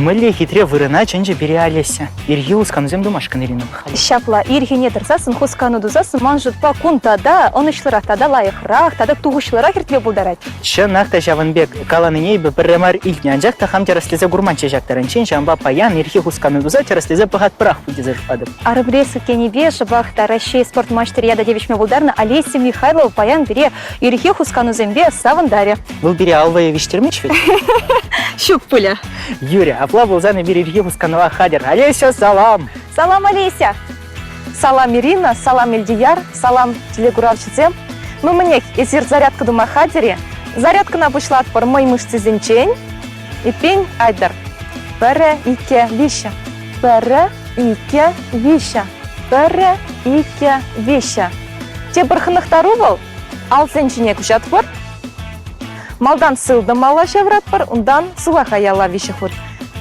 Мӗнле хитре вырӑна чӗнчӗ пире Олеся. Ирхи хусканусем тумашкӑн Ирина Михайловна. Ҫапла, ирхине тӑрсассӑн, хускану тусассӑн ман шутпа кунта та ӑнӑҫлӑрах тата лайӑхрах тата тухӑҫлӑрах иртме пултарать. Чӑнах та ҫавӑн пек каланине эпӗ пӗрре мар илтнӗ, анчах та хам тӗрӗслесе курманччӗ ҫак таранччен, ҫавӑнпа паян ирхи хускану туса тӗрӗслесе пӑхатпӑрах пуль тесе шутлатӑп. Арабреск тенипе шӑпах та Раҫҫей спорт маҫтӑрӗ ята тивӗҫме пултарнӑ Олеся Михайлова паян пире ирхи хусканусемпе савӑнтарӗ. Вӑл пире аллӑя виҫтермест вӗт? Ҫук пулӗ. Юрий, апла пулсан эпир ирхи хусканӑва хатӗр. Олеся, салам! Салам, Олеся! Салам, Ирина, салам, Эльдияр, салам, телекуравҫӑсем. Ну мӗнех, эсир зарядка тума хатӗр-и? Зарядкӑна пуҫлатпӑр мӑй мышцисенчен. Эппин, айтӑр. Пӗрре, иккӗ, виҫҫӗ. Пӗрре, иккӗ, виҫҫӗ. Пӗрре, иккӗ, виҫҫӗ. Те пӗр хӑнӑхтару вӑл? Алсен ҫине куҫатпӑр. Малтан сылтӑмалла ҫавӑратпӑр, унтан сулаха яла виҫӗхут.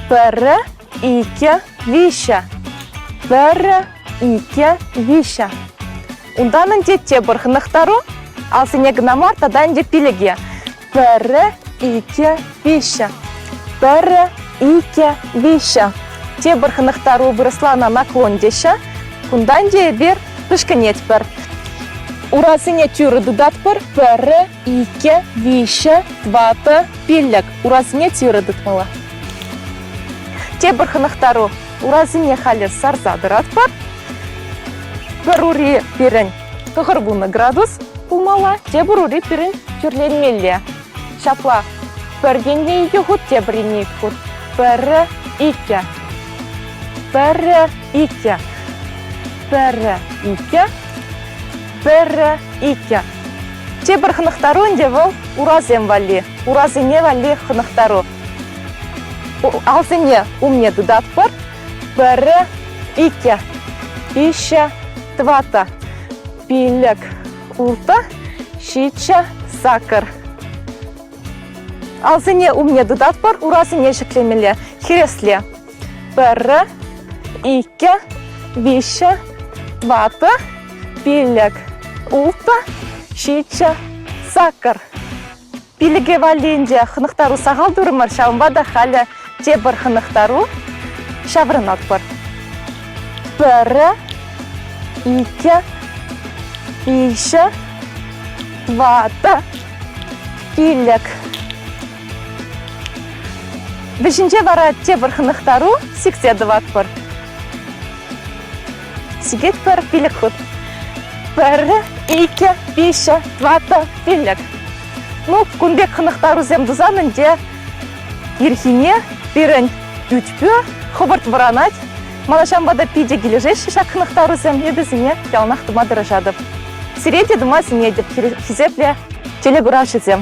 Пӗрре, иккӗ, виҫҫӗ. Пӗрре, иккӗ, виҫҫӗ. Унтан ӗнтӗ те пӗр хӑнӑхтару, алсине кӑна мар тата ӗнтӗ пилӗке. Пӗрре, икӗ, виҫҫӗ. Пӗрре, икӗ, виҫҫӗ. Тепӗр хӑнӑхтару вырӑслана наклон теҫҫӗ. Кунтан те эпир пӗшкӗнетпӗр. Урасене тӳрӗ тытатпӑр. Пӗрре, икӗ, виҫҫӗ, ватӑ, пиллӗк. Урасене тӳрӗ тытмалла. Тепӗр хӑнӑхтару. Урасене халӗ сарса тӑратпӑр. Пӗр ури пирӗн Кӑкӑрпунӑ градус пулмалла, тепӗр ури пирӗн тӳрлетмелле. Ҫапла. Пӗр енне икӗ хут, тепӗр енне икӗ хут. Пӗрре, иккӗ. Пӗрре, иккӗ. Пӗрре, иккӗ. Пӗрре, иккӗ. Тепӗр хӑнӑхтару ӗнтӗ вӑл урасем валли. Урасене валли хӑнӑхтару. Алсене умне тытатпӑр, Пӗрре, икӗ, виҫҫӗ, тӑватӑ. Пилӗк, ултӑ, ҫиччӗ, сакӑр. Алсине умне тытатпӑр, урасене ҫӗклемелле, хӗресле. Пӗрре, иккӗ, виҫҫӗ, тӑватӑ, пилӗк, ултӑ, ҫиччӗ, сакӑр. Пилӗке валлинче хӑнӑхтару сахал турӑмӑр, ҫавӑнпа та халӗ тепӗр хӑнӑхтару ҫаврӑнатпӑр. Пӗр, икӗ, виҫӗ, ватӑ, пилӗк. Вӗҫӗнче вара тепӗр хӑнӑхтару сиксе тӑватпӑр. Сикет пӗр пилӗк хут. Пӗрре, икӗ, виҫӗ, тӑватӑ, пилӗк. Ну, кун пек хӑнӑхтарусем тусан ӗнтӗ ирхине пирӗн ӳтпӳ хӑвӑрт вӑранать. Малашанпа та питӗ килӗшеҫҫӗ ҫак хӑнӑхтарусем, эпӗсене яланах тума тӑрӑшатӑп. Сире те тума сӗнетӗп, хисеплӗ телекуравҫӑсем.